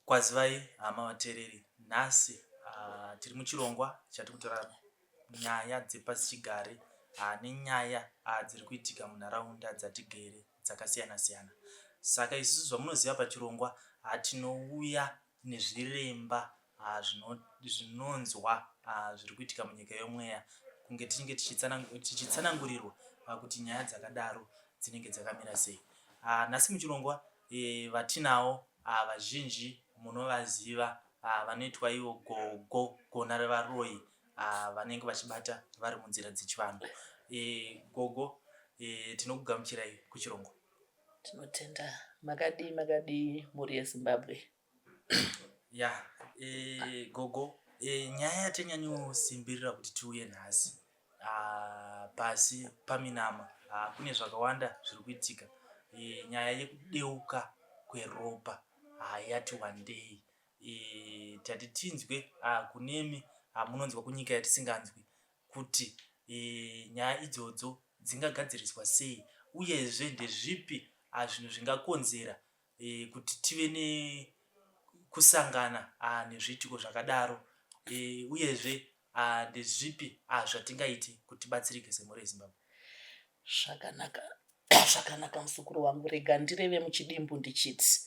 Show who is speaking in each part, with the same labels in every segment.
Speaker 1: Kwazivai hama vateereri, nhasi tiri muchirongwa chatiri kutora nyaya dzepasichigare nenyaya dziri kuitika munharaunda dzatigere dzakasiyana siyana. Saka isusu zvamunoziva pachirongwa tinouya nezviremba zvinonzwa zviri kuitika munyika yomweya kunge tinenge tichitsanangurirwa kuti nyaya dzakadaro dzinenge dzakamira sei. Nhasi muchirongwa Vatinawo vazhinji munovaziva vanoitwa ivo gogo gona revaroyi vanenge vachibata vari munzira dzechivanhu. Gogo tinokugamuchirai kuChirongo. Tinotenda.
Speaker 2: Makadii makadii mhuri yeZimbabwe. ya e,
Speaker 1: gogo e, nyaya yatanyanyosimbirira kuti tiuye nhasi ah, pasi paminama ah, kune zvakawanda zviri kuitika e, nyaya yekudeuka kweropa ah, yati wandei e, tati tinzwe ah, kunemi ah, munonzwa kunyika yatisinganzwi kuti e, nyaya idzodzo dzingagadziriswa sei uyezve ndezvipi ah, zvinhu zvingakonzera e, kuti tive nekusangana ah, nezviitiko zvakadaro e, uyezve ah, ndezvipi ah, zvatingaiti kuti batsirike semhuri yezimbabwe zvakanaka
Speaker 2: zvakanaka musukuru wangu rega ndireve muchidimbu ndichiti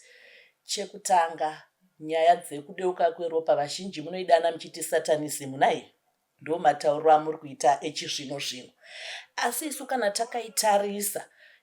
Speaker 2: chekutanga nyaya dzekudeuka kweropa vazhinji munoidana muchiti satanism nai ndo matauriro amuri kuita echizvino zvino asi isu kana takaitarisa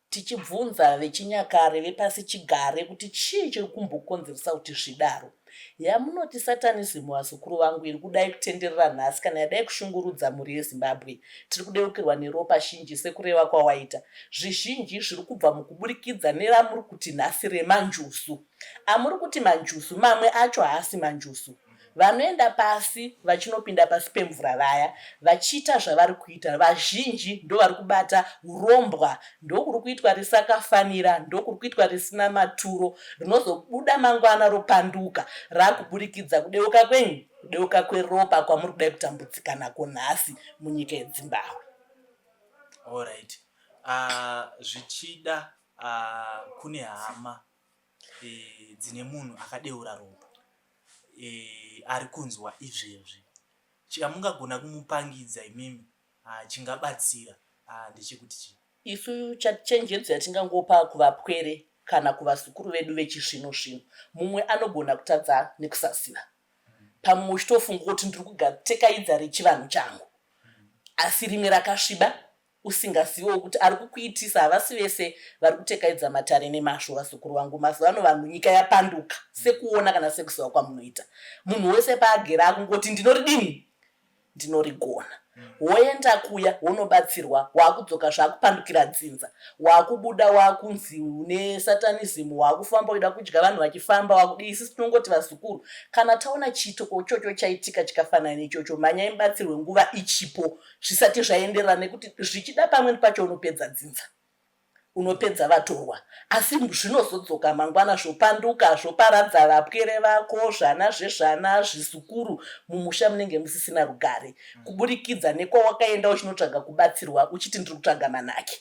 Speaker 2: tichibvunza vechinyakare vepasi chigare kuti chii chiri kumbokonzeresa kuti zvidaro yamunoti satanism vazukuru vangu iri kudai kutenderera nhasi kana yadai kushungurudza mhuri yezimbabwe tiri kudeukirwa neropa shinji sekureva kwawaita zvizhinji zviri kubva mukuburikidza neramuri kuti nhasi remanjusu amuri kuti manjusu mamwe acho haasi manjusu Vanoenda pasi vachinopinda pasi pemvura vaya vachiita zvavari kuita vazhinji ndovari kubata urombwa ndokuri kuitwa risakafanira ndokuri kuitwa risina maturo rinozobuda mangwana ropanduka rakuburikidza kudeuka kwenyu kudeuka kweropa kwamuri kudai kutambudzika nako nhasi munyika yedzimbabwe
Speaker 1: allright ah, zvichida uh, uh, kune hama e, dzine munhu akadeura ropa e, ari kunzwa izvezvi chamungagona kumupangidza imimi ah, chingabatsira ah, ndechekuti chii isu
Speaker 2: chenjedzo yatingangopa kuvapwere kana kuvazukuru vedu vechizvino zvino mumwe anogona kutadza nekusaziva pamwe uchitofunga kuti ndiri kugatekaidza rechivanhu changu asi rimwe rakasviba usingazivewo kuti ari kukuitisa havasi vese vari kutekaidza matare nemazvo vazukuru vangu mazuva ano vanhu nyika yapanduka sekuona kana sekuziva kwamunoita munhu wese paagere akungoti ndinoridini ndinorigona woenda kuya wonobatsirwa waakudzoka zvaakupandukira dzinza waakubuda waakunzi une satanism waakufamba uida kudya vanhu vachifamba wakudii isisi tinongoti vazukuru kana taona chiitiko chocho chaitika chikafanana nechocho mhanyai mubatsirwe nguva ichipo zvisati zvaenderana nekuti zvichida pamweni pacho unopedza dzinza unopedza vatorwa asi zvinozodzoka mangwana zvopanduka zvoparadza vapwere vako zvana zvezvana zvizukuru mumusha munenge musisina rugare mm. kuburikidza nekwawakaenda uchinotsvaga kubatsirwa uchiti ndiri kutsvaga manake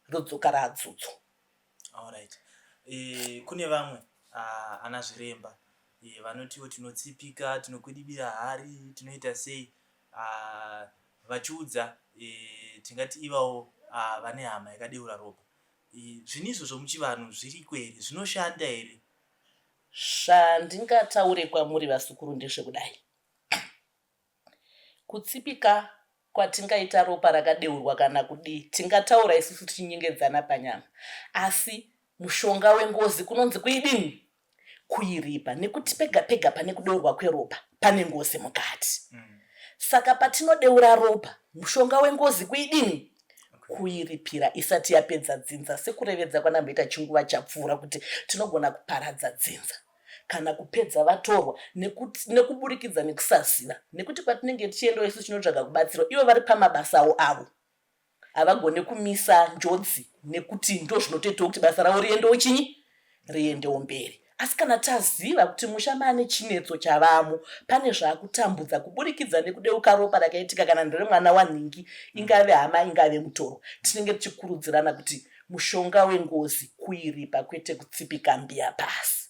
Speaker 2: rodzoka raadzudzo right.
Speaker 1: e, eh, kune vamwe uh, ana zviremba e, vanotiwo tinotsipika tinokwidibira hari tinoita sei uh, vachiudza uh, tingati ivawo uh, vane hama yakadeura ropa uh, zvinhu izvo zvomuchivanhu zviriko here zvinoshanda here zvandingataure
Speaker 2: kwamuri vasukuru ndezvekudai kutsipika kwatingaita ropa rakadeurwa kana kudii tingataura isusu tichinyengedzana panyama asi mushonga wengozi kunonzi kuidini kuiripa nekuti pega pega pane kudeurwa kweropa pane ngozi mukati mm. saka patinodeura ropa mushonga wengozi kuidini kuiripira isati yapedza dzinza sekurevedza kwanamboita chinguva chapfuura kuti tinogona kuparadza dzinza kana kupedza vatorwa nekuburikidza nekusaziva nekuti kwatinenge tichiendawo isu tinotsvaga kubatsirwa ivo vari pamabasa avo avo havagone kumisa njodzi nekuti ndozvinotoitawo kuti basa ravo riendewo chinyi riendewo mberi asi kana taziva kuti musha maane chinetso chavamo pane zvaakutambudza kuburikidza nekudeuka ropa rakaitika kana nderemwana wanhingi ingave hama ingave mutoro tinenge tichikurudzirana kuti mushonga wengozi kuiripa kwete kutsipika mbiya pasi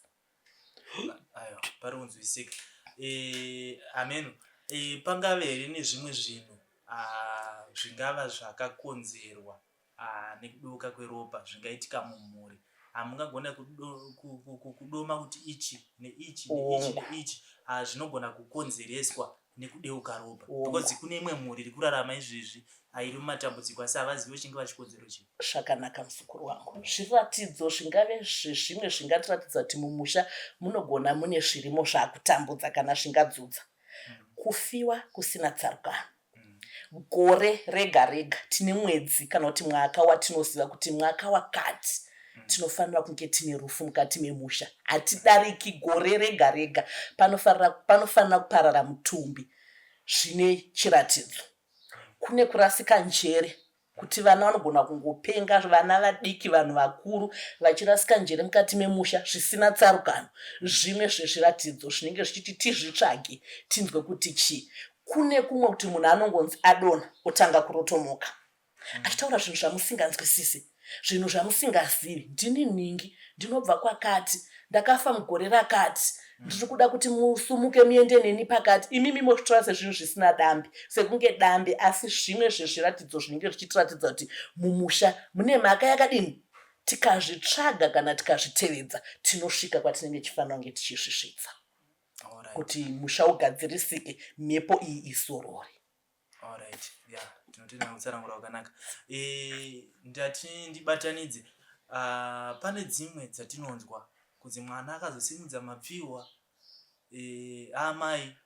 Speaker 2: pari
Speaker 1: kunzwisika eh, ameno eh, pangave here nezvimwe zvinhu ah, zvingava zvakakonzerwa ah, nekudoka kweropa zvingaitika mumhuri hamungagona kudoma kuti ichi neichi neichi neichi zvinogona kukonzereswa nekudeuka ropa because kune imwe mhuri iri kurarama izvezvi airi mumatambudziko asi havazivi vachinge vachikonzero chii zvakanaka muzukuru
Speaker 2: wangu zviratidzo zvingave zvezvimwe zvingatiratidza kuti mumusha munogona mune zvirimo zvakutambudza kana zvingadzudza mm. kufiwa kusina tsarukano mm. gore rega rega tine mwedzi kana kuti mwaka watinoziva kuti mwaka wakati tinofanira kunge tine rufu mukati memusha hatidariki gore rega rega panofanira kuparara mutumbi zvine chiratidzo kune kurasika njere kuti vana vanogona kungopenga vana vadiki vanhu vakuru vachirasika njere mukati memusha zvisina tsarukano zvimwe zvezviratidzo zvinenge zvichiti tizvitsvage tinzwe kuti chii kune kumwe kuti munhu anongonzi adona otanga kurotomoka achitaura zvinhu zvamusinganzwisisi zvinhu zvamusingazivi ndini nhingi ndinobva kwakati ndakafa mugore rakati ndiri kuda kuti musumuke muende neni pakati imimi mozvitora sezvinhu zvisina dambi sekunge dambi asi zvimwe zvezviratidzo zvinenge zvichitiratidza kuti mumusha mune mhaka yakadini tikazvitsvaga kana tikazvitevedza tinosvika kwatinenge tichifanira kunge tichizvisvitsa kuti musha ugadzirisike mhepo iyi izorore Alright,
Speaker 1: yeah, tinotenda nekutsanangura kwakanaka. Eh, ndati ndibatanidze. Ah, pane dzimwe dzatinonzwa kunzi mwana akazosimudza mapfihwa eh, amai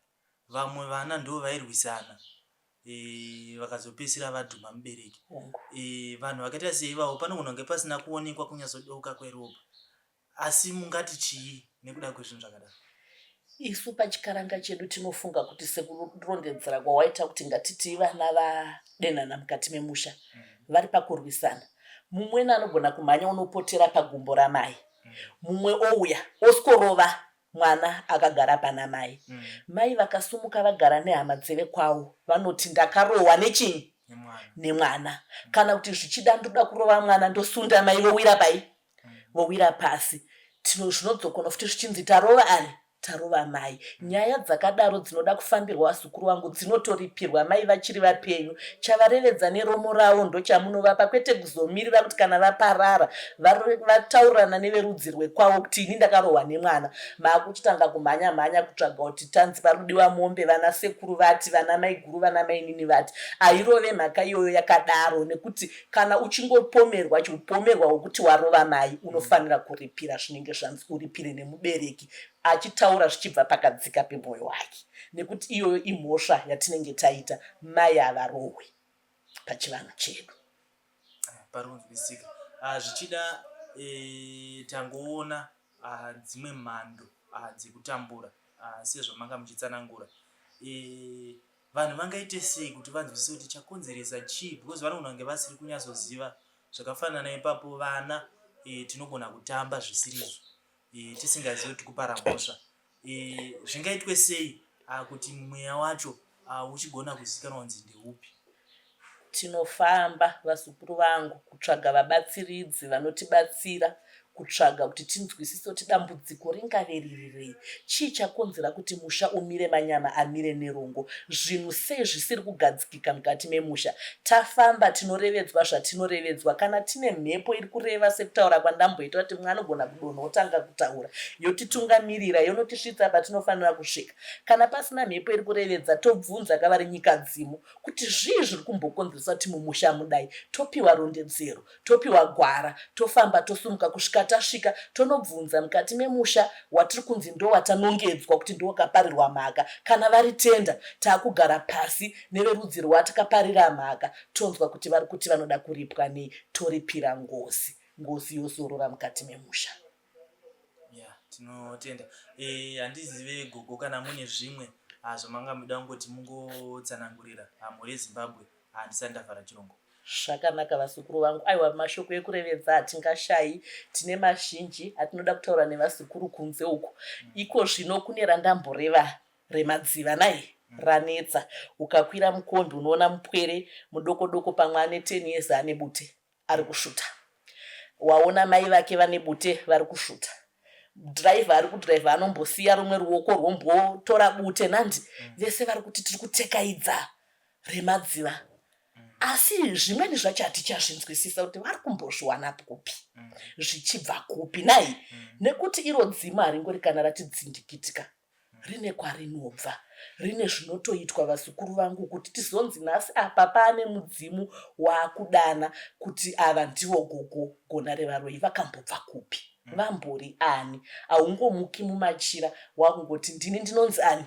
Speaker 1: vamwe vana ndo vairwisana eh, vakazopedzisira vadhuma mubereki. Eh, vanhu vakaita seivavo panogona kunge pasina kuonekwa kunyatsodoka kweropa. Asi mungati chii nekuda kwezvinhu zvakadaro? Isu
Speaker 2: pachikaranga chedu tinofunga kuti sekurondedzera kwawaita kuti ngatitii vana vadenana mukati memusha mm. vari pakurwisana mumweni anogona kumhanya unopotera pagumbo ramai mm. mumwe ouya oskorova mwana akagara pana mai mm. mai vakasumuka vagara nehama dzeve kwavo vanoti ndakarohwa nechinyi nemwana kana kuti zvichida ndoda kurova mwana ndosunda mai vowira pai vowira pasi tino zvinodzokonwa futi zvichinzi tarova ani tarova mai nyaya dzakadaro dzinoda kufambirwa vazukuru vangu dzinotoripirwa mai vachiri vapenyu chavarevedza neromo ravo ndochamunovapa kwete kuzomirira kuti kana vaparara vataurirana neverudzi rwekwavo kuti ini ndakarohwa nemwana maakuchitanga kumhanya mhanya kutsvaga kuti tanzi parudiwa mombe vana sekuru vati vana maiguru vana mainini vati airove mhaka iyoyo yakadaro nekuti kana uchingopomerwa chiupomerwa wokuti warova mai unofanira kuripira zvinenge zvanzi uripire nemubereki achitaura zvichibva pakadzika pemwoyo wake nekuti iyoyo imhosva yatinenge taita mai havarohwe pachivanhu chedu
Speaker 1: parinonzwisika ah, zvichida eh, tangoona ah, dzimwe mhando ah, dzekutambura sezvamanga muchitsanangura eh, Vanhu vangaite sei kuti vanzwisise kuti chakonzeresa chii because vanogona kunge vasiri kunyatsoziva zvakafanana ipapo vana e, tinogona kutamba zvisirizvo e, tisingazivi kuti kupara mhosva e, zvingaitwe sei a, ah, kuti mweya wacho ah, uchigona kuzikanwa kunzi ndeupi
Speaker 2: Tinofamba, vazukuru vangu, kutsvaga vabatsiridzi vanotibatsira kutsvaga kuti tinzwisise kuti dambudziko ringave riri rei. Chii chakonzera kuti musha umire manyama amire nerongo? Zvinhu sei zvisiri kugadzikika mukati memusha? Tafamba tinorevedzwa zvatinorevedzwa. Kana tine mhepo iri kureva sekutaura kwandamboita kuti mumwe anogona kudonha otanga kutaura yotitungamirira yonotisvitsa patinofanira kusvika. Kana pasina mhepo iri kurevedza tobvunza kavari nyikadzimu kuti zvii zviri kumbokonzeresa kuti mumusha mudai topiwa rondedzero topiwa gwara tofamba tosumuka kusvika tasvika tonobvunza mukati memusha watiri kunzi ndowatanongedzwa kuti ndowakaparirwa mhaka kana vari tenda taakugara pasi neverudzi rwatakaparira mhaka tonzwa kuti vari kuti vanoda kuripwa nei toripira ngozi ngozi yozorora mukati memusha ya tinotenda
Speaker 1: eh, handizive gogo kana mune zvimwe ah, zvamanga muda kungoti mungotsanangurira ah, mhuri yezimbabwe handisati ndavhara chirongo zvakanaka
Speaker 2: vazukuru vangu aiwa mashoko ekurevedza hatingashayi tine mazhinji atinoda kutaura nevazukuru kunze uku mm. iko zvino kune randamboreva remadziva nai mm. ranetsa ukakwira mukombi unoona mupwere mudoko doko pamwe ane ten years ane bute arikusvuta waona mai vake vane bute varikusvuta driver ari kudriver anombosiya rumwe ruoko rwombotora bute nandi mm. vese vari kuti tiri kutekaidza remadziva mm. asi zvimweni zvacho hatichazvinzwisisa kuti vari kumbozviwanapi kupi mm. zvichibva kupi nai nekuti iro dzima haringori kana ratidzindikitika rine kwarinobva rine zvinotoitwa vazukuru vangu kuti tizonzi nhasi apa paane mudzimu waakudana kuti ava ndivo gogo gona revaroyi vakambobva kupi hmm. vambori ani haungomuki mumachira wakungoti ndini ndinonzi ani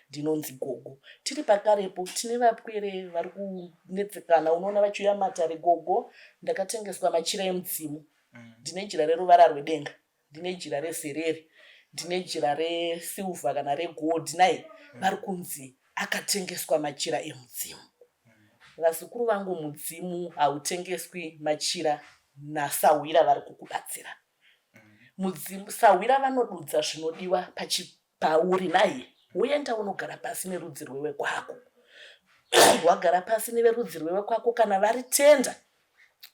Speaker 2: ndinonzi gogo tiri pakarepo tine vapwere vari kunetsekana unoona vachiuya matare gogo ndakatengeswa machira emudzimu mm. ndine jira reruvara rwedenga ndine jira rezerere ndine jira resilva kana regold naye vari kunzi akatengeswa machira emudzimu vazukuru vangu mudzimu hautengeswi machira nasahwira vari kukubatsira mudzimu sahwira vanodudza zvinodiwa pachipiri pauri naye woenda unogara pasi nerudzi rwewe kwako wagara pasi neverudzi rwewe kwako kana vari tenda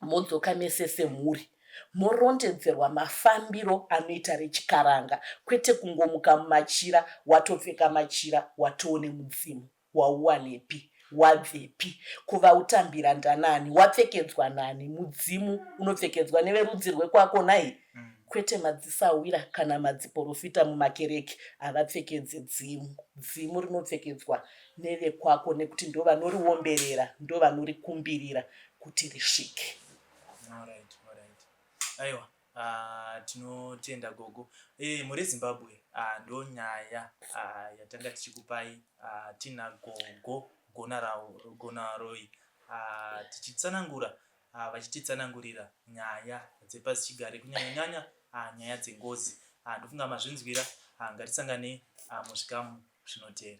Speaker 2: modzoka mese semhuri morondedzerwa mafambiro anoita rechikaranga kwete kungomuka mumachira watopfeka machira watoone mudzimu wauwanepi wabvepi kuvautambira ndanani wapfekedzwa nani mudzimu unopfekedzwa neverudzi rwekwako nai mm. kwete madzisahwira kana madziporofita mumakereke havapfekedze dzimu dzimu rinopfekedzwa nevekwako nekuti ndo vanoriomberera ndo vanorikumbirira kuti risvike
Speaker 1: aiwa Ah, tinotenda gogo e, muri zimbabwe ah, ndo nyaya ah, yatanga tichikupai ah, tina gogo gonaroi ah, tichitsanangura ah, vachititsanangurira nyaya dzepasichigare kunyanyanyanya ah, nyaya dzengozi ah, ndofunga mazvinzwira ah, ngatisanganei ah, muzvikamu zvinoteera